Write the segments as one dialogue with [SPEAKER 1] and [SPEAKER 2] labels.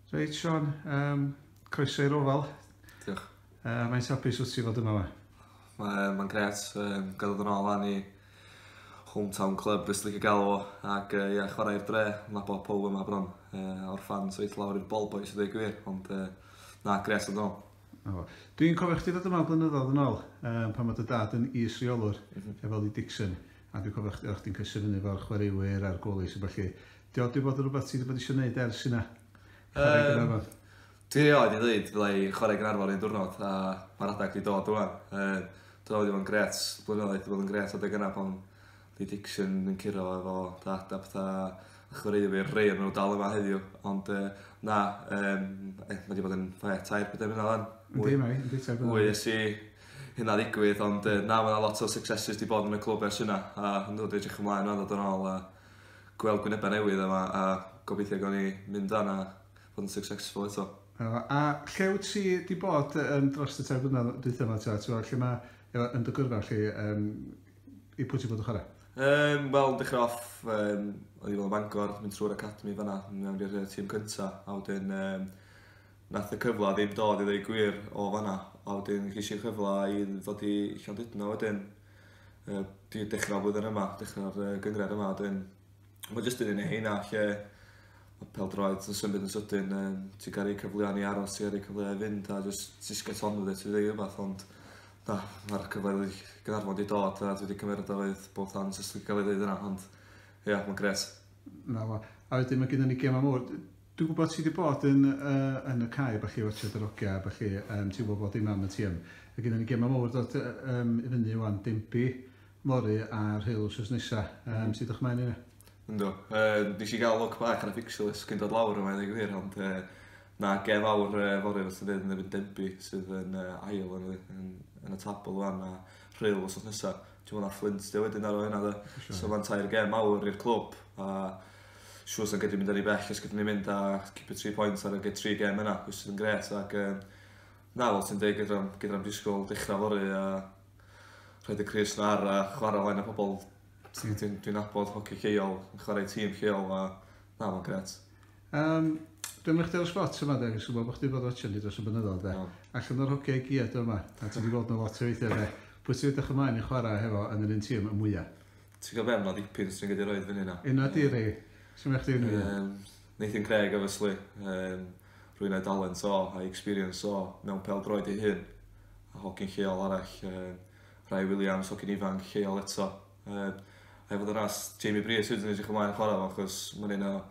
[SPEAKER 1] Reit Sean, um, croeso i'r ofal. Diolch. Uh, mae'n hapus wrth ti fod yma fe? Mae'n ma gret, um, gadwyd yn ôl ni hometown club, beth sy'n gael o, ac uh, yeah, chwarae'r dre, na bod pob yma bron, uh, o'r ffans weith lawr i'r bol boys, ydw gwir, ond uh, na, gret yn ôl. Dwi'n cofio chdi ddod yma blynyddoedd yn ôl, um, pan mae dy dad yn is reolwr, mm -hmm. efo Lee Dixon, a dwi'n cofio chdi, o'ch ti'n cysur fyny fo'r chwaraewyr a'r golis a felly, 'Di o 'di bod yn rhywbeth ti 'di bod isio neud ers hynna? Chwarae i Gaernarfon? Dwi erioed 'di ddeud fydda i chwarae i Gaernarfon un diwrnod a ma'r adeg 'di dod ŵan. Yym dwi me'wl bod 'i fod yn grêt, blynyddoedd 'di bod yn grêt adeg yna pan odd Lee Dixon yn curo efo Dad a petha a a chwaraewyr rei o n'w dal yma heddiw ond yy na yym e- ma' 'di bod yn we- tair pedair mlynadd ŵan. Yndi mae 'i yndi tair blynadd. Mwy ers i hynna ddigwydd ond yy na ma' 'na lot o successes 'di bod yn y clwb ers hynna a yndw dwi edrych ymlaen rŵan ddod yn ôl a gweld gwyneba newydd yma a gobeithio gawn ni mynd lan a fod yn successful eto. Na fo. A lle wyt ti 'di bod yy yym drost y tair blynadd dwytha 'ma t'wod t'wod lle ma' efo yn dy gyrfa chi yym i pwy ti bod yn chwara? Yym wel dechra off yym o'n i fel Bangor mynd trw'r academi fan 'na myn' mewn i'r yy tîm cynta a wedyn yym nath y cyfla ddim dod i ddeu gwir o fan 'na a wedyn gesh i'r cyfla i ddod i Llandudno wedyn yy dwi 'di dechra flwyddyn yma dechra'r yy gynghrair yma 'dyn ma' jyst un o rei heina lle ma' pêl-droed yn symud yn sydyn yym ti ga'l rei cyfleon i aros ti ga'l rei cyfleu i fynd a jys jys get on with it i ddeu y gwir ond na ma'r cyfleodd i Gaernarfon 'di dod a dwi 'di cymeryd o with both hands os dwi'n ca'l 'i ddeud yna ond ia ma'n grêt. 'Na fo. A wedyn ma' gennon ni gema mowr d- Dwi'n gwybod ti 'di bod yn yy yn y cae a ballu watsiad yr ogia a ballu yym ti'n gwybod bod dim am y ti yn ma' gynnon ni gema mowr dod yy yym i fyny ŵan Denby fory a Rhyl wsos nesa yym ti edrych mlaen i hynna? Yndw yy nes i ga'l lwc bach ar y fixtures cyn dod lawr yma i ddeu gwir ond yy ma' gem fawr yy fory wrth y ryn yn erbyn Denby sydd yn yy ail yn y yn yn y tabl ŵan a Rhyl wsos nesa t'mo' ma' Fflint 'di o wedyn ar ôl hynna 'de? Siŵr. So ma'n tair gem mawr i'r clwb a siŵr sa gyd mynd yn ry bell os gydwn ni'n mynd a cipio tri pwynt ar ag y tri gem yna which sydd yn grêt ac yym na fel ti'n deud gydra'n gydra'n disgwyl dechrau fory a rhaid y crys na ar a chwarae flaen y pobl sy'n dwi'n dwi nabod hoci lleol yn chwarae tîm lleol a na fo'n grêt. Um, Dwi'n mynd chdi ar y spot yma de, gwybod bod chdi bod watching ni dros y mynyddoedd de. Oh. Allan o'r hogiau giad yma, a ti wedi bod nhw lot o weithiau de. Pwy ti'n edrych ymlaen i chwarae hefo yn yr un tîm y mwyaf? Ti'n cael be, mae 'na ddipyn sy'n gallu rhoi fyny yna. Yna di rei. Sut mae chdi ynddi? Um, Nathan Craig, obviously. Um, rwy'n ei dalent o, a'i experience o, mewn pel droed ei hun. A hogyn lleol arall, um, Rai Williams, hogyn ifanc lleol eto. Um, a efo ddynas, Jamie Brees, ydyn ni'n edrych ymlaen chwarae fo, achos mae'n un o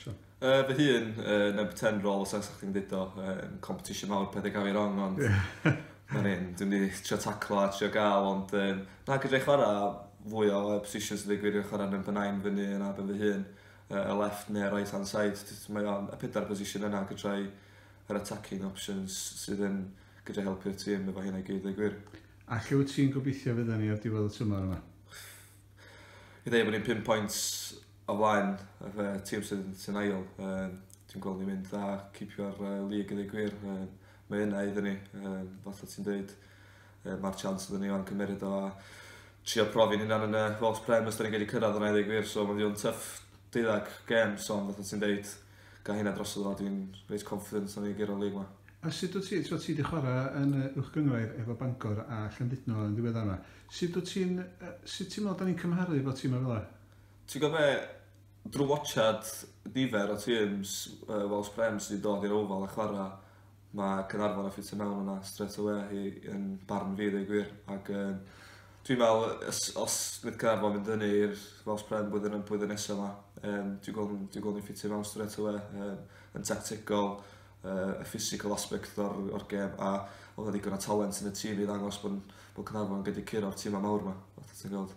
[SPEAKER 1] Sure. Uh, fy hun, uh, na beth ten rôl, os ag chdi'n dweud o, um, competition mawr, pethau gael ei rong, ond... Na ni, dwi'n ni trio taclo a trio gael, ond um, na gyda'i chwarae fwy o positions yn digwydd yn chwarae yn fy nain fyny yna ben fy hun, uh, y left neu right hand side, mae o'n y pedair position yna gyda'i yr attacking options sydd yn gyda helpu'r tîm efo hynna gyd, ei gwir. A lle wyt ti'n gobeithio fydda ni ar diwedd y tymor yma? I ddweud bod ni'n 5 pwynt o flaen yr uh, tîm sy'n sy ail. Um, dwi'n gweld ni'n mynd dda cipio'r uh, lig yn ei gwir. Um, mae yna iddyn ni, um, fatha ti'n dweud, um, mae'r chance iddyn ni o'n cymeryd o a trio profi'n hynna'n yn y Welsh Prem os da ni'n wedi cyrraedd yna i ddeg wir, so mae'n ddiw'n tyff deuddag gem, so ond fatha ti'n dweud, gael hynna dros o dwi'n reit confident o'n i'n gyrraedd lig yma. A sut wyt ti, so ti wedi chwarae yn y uwch gyngrair efo Bangor a Llandudno yn ddiweddar yma, sut wyt ti'n, sut ti'n meddwl da ni'n cymharu efo tîm o fel Ti'n gwybod be? Drwy watsiad nifer o teams yy Wales Prem sy 'di dod i'r Oval a chwara' ma' Caernarfon yn ffitio mewn yna strêt awe i yn barn fi ddeu gwir ac yym dwi'n me'wl yy os os fydd Caernarfon mynd fyny i'r Wales Prem blwyddyn y- blwyddyn nesa 'ma yym dwi'n gwel' n- dwi'n gwel' ni'n ffitio mewn strêt awe yym yn tactegol yy y physical aspect o'r o'r gêm a odd 'na ddigon o talent yn y tîm i ddangos bo' n- bo' Caernarfon yn gallu curo'r tima mawr 'ma fatha ti'n gweld.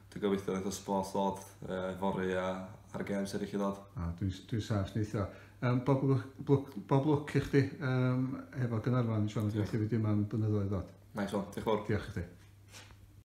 [SPEAKER 1] Dwi'n gobeithio wneith y sbort ddod uh, fory a ar y games eraill i ddod. Ah, dwi'n dwi sach neithio. Um, bob, lwc, bob lwc i chdi um, efo Gynarfon, Sian, os ydych chi wedi yma'n blynyddoedd ddod. Nice one, diolch fawr. Diolch i chdi.